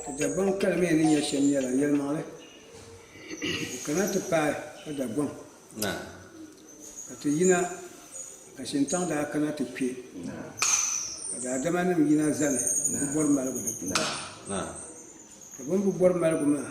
Ka Dagbaŋ kali mi ni nyɛ shɛm nyɛla yɛlimaŋli ka kana ti paai ka Dagbaŋ ka ti yina ka Shintaŋ daa kana ti kpe ka daadamanim yina zani m-bi bɔri maligu di puuni ka bɛ ni bi bɔri maligu maa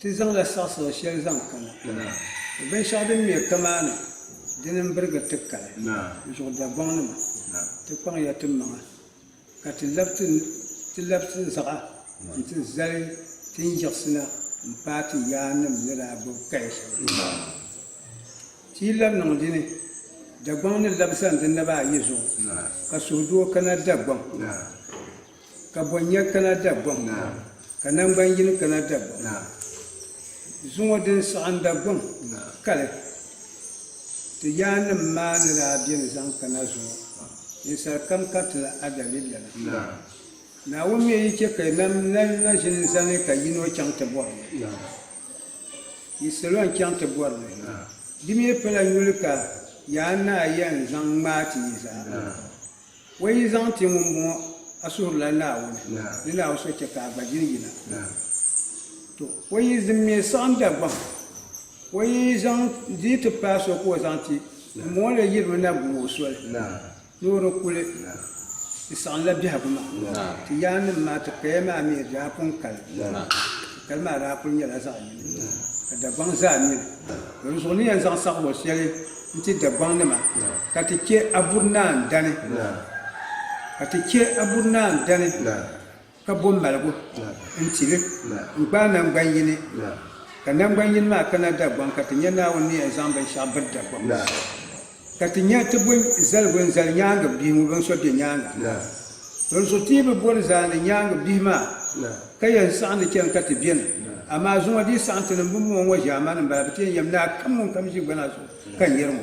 Ti zaŋla siɣisigu shɛli zaŋ kana, ni binshɛɣu din mɛ kamaani dini m-birigi ti kali zuɣu Dagbaŋnima. Ti kpaŋ ya ti maŋa ka ti lab ti lab tin zaɣa nti zali tin yiɣisina m-paai ti yaannim ni daa gbibi kaya shɛŋa maa. Ti yi lab niŋ dini, Dagbaŋ ni lab zani di naba ayi zuɣu ka suhudoo kana Dagbaŋ. Ka bɔnnya kana Dagbaŋ ni, ka naŋgban yini kana Dagbaŋ ni, zuŋɔ din saɣim Dagbaŋ kali, ti yaannim maa ni daa be ni zaŋ kana zuŋɔ, ninsal kam karitila a dalilla ni pula. Naawuni mi yi chɛ ka yi nam nal na ʒini zani ka yino chaŋ ti bɔri li, yi salo n-chaŋ ti bɔri li, di mi pala yuli ka Yaan Naa yɛn zaŋ ŋmaai ti yi zaa. O yi zaŋ ti ŋumbɔŋɔ, a suhirila Naawuni ni Naawuni so chɛ ka a gba diri yina. To, o yi zimmiya saɣim Dagbaŋ, o yi zaŋ di ti paai so ka o zaŋ ti ŋumbɔŋɔ la yirimi na gum o soli ni o di kuli ti saɣimla biɛhigu maa. Ti yaannim maa, ti kaya maa mi daa pun kali. Ti kali maa daa kul nyɛla zaɣ yini, ka Dagbaŋ zaa mi li. Di zuɣu ni yɛn zaŋ saɣivo shɛli Nti Dagbaŋnima, ka ti chɛ a buri naan dani, ka ti chɛ a buri naan dani, ka bo maligu n-ti li n-gbaai naŋgban yini, ka naŋgban yini maa kana Dagbaŋ, ka ti nya Naawuni ni yɛn zaŋ binshɛɣu biri Dagbaŋ, ka ti nya ti bo zaligu n-zali nyaaŋa bihi ŋubinso be nyaaŋa, dinzuɣu ti yi bi bori zaa ni nyaaŋa bihi maa. Ka yɛn saɣim ni chani ka ti beni, amaa zuŋɔ dii saɣim ti ni m bimbɔŋɔ ŋɔ ʒiɛmani m-bala, bɛ ti yɛn yɛm ni a kam ŋun kam ʒi gbana zuɣu ka n yɛri ŋɔ.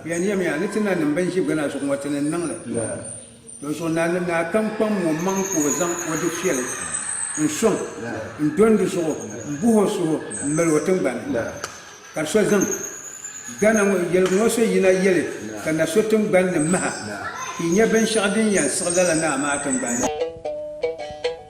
Bɛ yɛn yɛmiya, ni ti nanim bɛn ʒi gbana zuɣu ŋɔ ti ni niŋ li. Dinzuɣu nanim ni a kam kpaŋ ŋɔ maŋ ka o zaŋ o dufiɛli n-sɔŋ n dɔni di zuɣu m-buhi o suhu m-mali o tiŋgbani ni. Ka di so zaŋ Ghana ŋɔ yɛligu ŋɔ so yina yɛli ka na so tiŋgbani ni maha ka yi nya binshɛɣu din yɛn siɣi lala naa maa tiŋgbani ni.